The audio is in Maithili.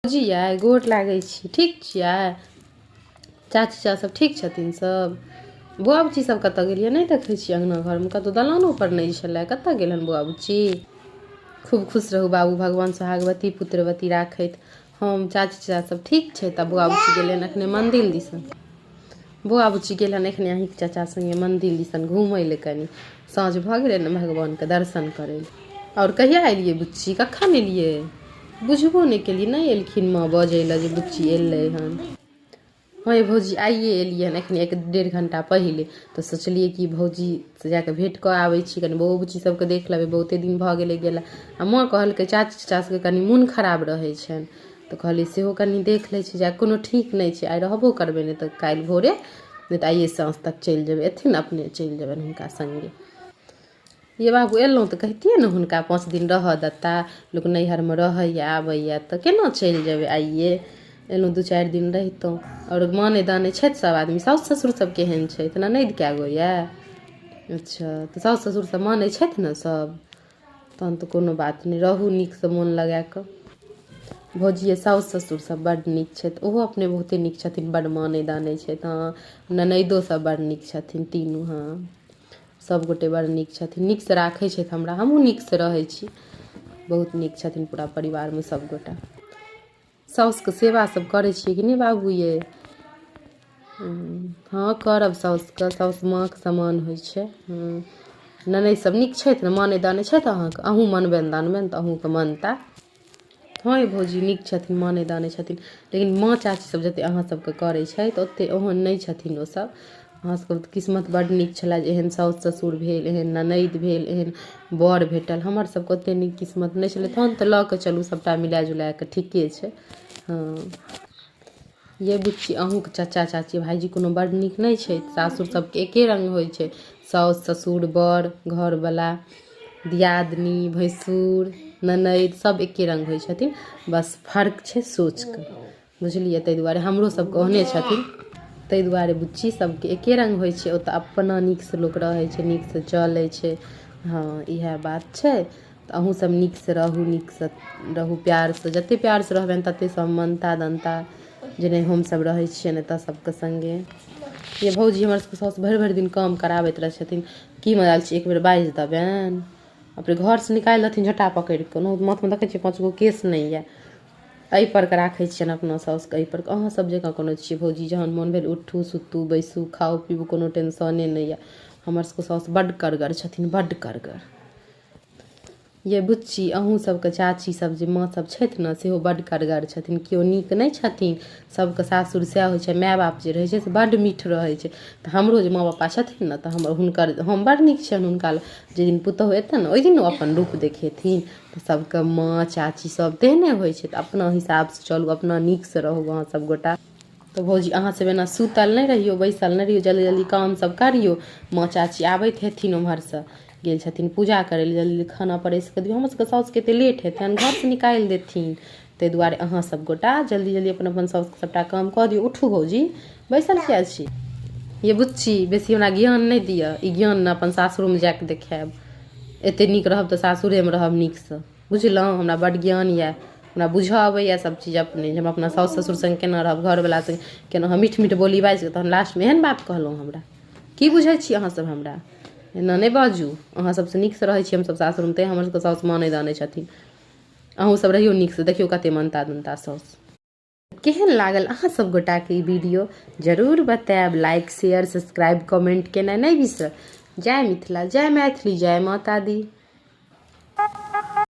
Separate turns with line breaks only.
बुझि यै गोर लागै छी ठीक छियै चाची चचा सब ठीक छथिन सब बौआ बुच्ची सब कतऽ गेल यऽ नहि देखै छियै अङ्गना घरमे कतौ दलानो पर नहि छलै कतऽ गेल हन बौआ बुच्ची खूब खुश रहू बाबू भगवान सोहागवती पुत्रवती राखैत हम चाची चचा सब ठीक छै तऽ बौआ बुच्ची गेल हन एखने मन्दिर दिसन बौआ बुच्ची गेल हन एखने अहीँके चचा सङ्गे मन्दिर दिसन घुमै लए कनि साँझ भऽ गेलै ने भगवानके दर्शन करै लए आओर कहिया एलियै बुच्ची कखन एलियै बुझबो नहि केलियै नहि एलखिन माँ बजै लए जे बुच्ची एलै हन हँ भौजी आइए एलियै हन एखन एक डेढ़ घंटा पहिले तऽ सोचलियै कि भौजी से जा कऽ भेँट कऽ आबै छी कनि बौओ बुच्ची सभके देख लेबै बहुते दिन भऽ गेलै गेला आ माँ कहलकै चाची चाचा सभके कनि मोन खराब रहै छनि तऽ कहलियै सेहो कनि देख लै छी जा कोनो ठीक नहि छै आइ रहबो करबै नहि तऽ काल्हि भोरे नहि तऽ आइए साँझ तक चलि जेबै अयथिन ने अपने चलि जेबनि हुनका सङ्गे ये बाबू अयलहुँ तऽ कहितियै ने हुनका पाँच दिन रहऽ देता लोक नैहरमे रहैए आबैए तऽ केना चलि जेबै आइए अयलहुँ दू चारि दिन रहितहुँ आओर मानै दानै छथि सभ आदमी सासु ससुर सभ केहन छथि ननदि कए गो यए अच्छा तऽ सासु ससुरसभ मानै छथि ने सभ तहन तऽ कोनो बात नहि रहू नीकसँ मोन लगा कऽ भौजियै साउस ससुर सभ बड्ड नीक छथि ओहो अपने बहुते नीक छथिन बड्ड मानै दानै छथि हँ ननैदो सभ बड़ नीक छथिन तीनू हँ सभ गोटे बड़ नीक छथिन नीकसँ राखै छथि हमरा हमहुँ नीकसँ रहै छी बहुत नीक छथिन पूरा परिवारमे सभ गोटा साउसके सेवा सब करै छियै कि नहि बाबू ये हँ करब साउसके साउस माँके समान होइ छै ननदि सब नीक छथि ने मानै दानै छथि अहाँके अहूँ मनबनि दानबनि तऽ अहूँके मनता हँ ये भौजी नीक छथिन मानै दानै छथिन लेकिन माँ चाची सब जते अहाँ सबके करै छथि ओते ओहन नहि छथिन ओसब हमरा सबके तऽ किस्मत बड्ड नीक छलए जे एहन साउस ससुर भेल एहन ननैद भेल एहन बर भेटल हमर सबके ओते नीक किस्मत नहि छलै तहन तऽ लऽ कऽ चलू सबटा मिला जुला कऽ ठीके छै हँ यै बुच्ची अहूँके चच्चा चाची भाइजी कोनो बड्ड नीक नहि छै सासुर सबके एके रंग होइ छै साउस ससुर बर घरवला दियादनी भैंसुर ननैद सब एके रंग होइ छथिन बस फर्क छै सोचके बुझलियै ताहि दुआरे हमरो सब कहने छथिन ताहि दुआरे बुच्ची सबके एके रंग होइ छै ओतऽ अपना नीक से लोक रहै छै नीक से चलै छै हँ इएह बात छै तऽ अहूँ सब नीक से रहू नीक से रहू प्यार से जते प्यार से रहबनि तते सब मनता दनता जे नहि हमसब रहै छियै ने तऽ सबके संगे ये भौजी हमर सबके साउस भरि भरि दिन काम कराबैत रहै छथिन की मजाल छै एक बेर बाजि देबनि अपने घर से निकालि देथिन झोटा पकड़ि कऽ माथमे देखै छियै पाँच गो केस नहि यऽ एहि पर कऽ राखै छियनि अपना साउसके एहि पर कऽ अहाँ सब जकाँ कोनो छियै भौजी जहन मोन भेल उठू सुतू बैसू खाउ पीबू कोनो टेंशने नहि यऽ हमर सबके साउस बड्ड करगर छथिन बड्ड करगर ये बुच्ची अहूँ सबके चाची सब जे माँ सब छथि ने सेहो बड्ड करगर छथिन केओ नीक नहि छथिन सबके सासुर सएह होइ छै माय बाप जे रहै छै से बड्ड मीठ रहै छै तऽ हमरो जे माँ पापा छथिन ने तऽ हम हुनकर हम बड्ड नीक छियनि हुनका लए जाहि दिन पुतहु एतनि ने ओहि दिन ओ अपन रूप देखेथिन तऽ सभके माँ चाची सभ तेहने होइ छै तऽ अपना हिसाबसँ चलू अपना नीकसँ रहू अहाँ सभ गोटा तऽ भौजी अहाँ सभ एना सुतल नहि रहियौ बैसल नहि रहियौ जल्दी जल्दी काम सभ करियौ माँ चाची आबैत हेथिन ओम्हरसँ गेल छथिन पूजा करै लए जल्दी खाना परसि कऽ दियौ हमर सभके सासुके एते लेट हेतनि घरसँ निकालि देथिन ताहि दुआरे अहाँ सब गोटा जल्दी जल्दी अपन अपन सब सबटा काम कऽ दियौ उठू भौजी बैसल किया छी ये बुच्ची बेसी हमरा ज्ञान नहि दिअ ई ज्ञान ने अपन सासुरमे जा कऽ देखायब एते नीक रहब तऽ सासुरेमे रहब नीकसँ बुझलहुँ हमरा बड्ड ज्ञान यऽ हमरा बुझऽ अबैया सब चीज अपने जे हम अपना साउस ससुर सङ्ग केना रहब घरवला सङ्ग केना हम मीठ मीठ बोली बाजि कऽ तहन लास्टमे एहन बात कहलहुँ हमरा की बुझै छी अहाँ सब हमरा एना नहि बाजू अहाँ सबसँ नीकसँ रहै छी हमसब सासुरमे तैं हमर सबके साउस मानै दानै छथिन अहूँ सब रहियो नीक से देखियो कते मनता दनता सौस केहन लागल अहाँ सब गोटा के ई वीडियो जरूर बताएब लाइक शेयर सब्सक्राइब कमेंट केनाइ नहि बिसरब जय मिथिला जय मैथिली जय माता दी